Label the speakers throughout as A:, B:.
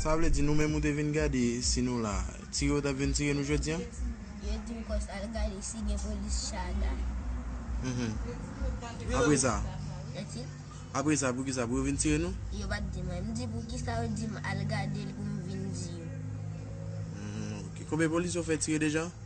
A: Sa vle di nou menm ou te vin gade si nou la. Tire ou tap vin tire nou jodi an? Yo di
B: m kòs al gade si gen polis Chaga.
A: Mhm. Apre sa? Eti?
B: Apre sa pou
A: ki sa? Pou yo vin tire nou? Yo pat di mwen. M di
B: pou ki sa yo di m al gade l pou m vin di yo. Mhm,
A: ok. Konbyen polis yo fè tire deja?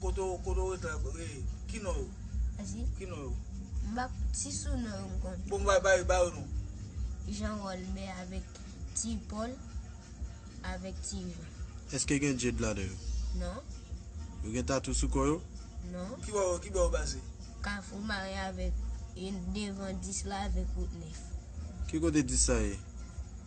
B: Kote ou
C: kote ou ret la e ki non yo? Esi. Ki
B: non
C: yo? M pa si
B: sou non yo m konn. Bon ba ba ba yo non.
C: Jean
B: Rolbè avèk ti Paul avèk ti Jean. Eske gen Jade ladan
A: yo? Non.
B: Yo gen
A: tatou sou kò yo? Non. Ki bò yo
B: ki bò yo
C: pase? Kafou mare
B: avèk e devan 10 la avèk wout 9. Ki kote
A: 10 sa ye?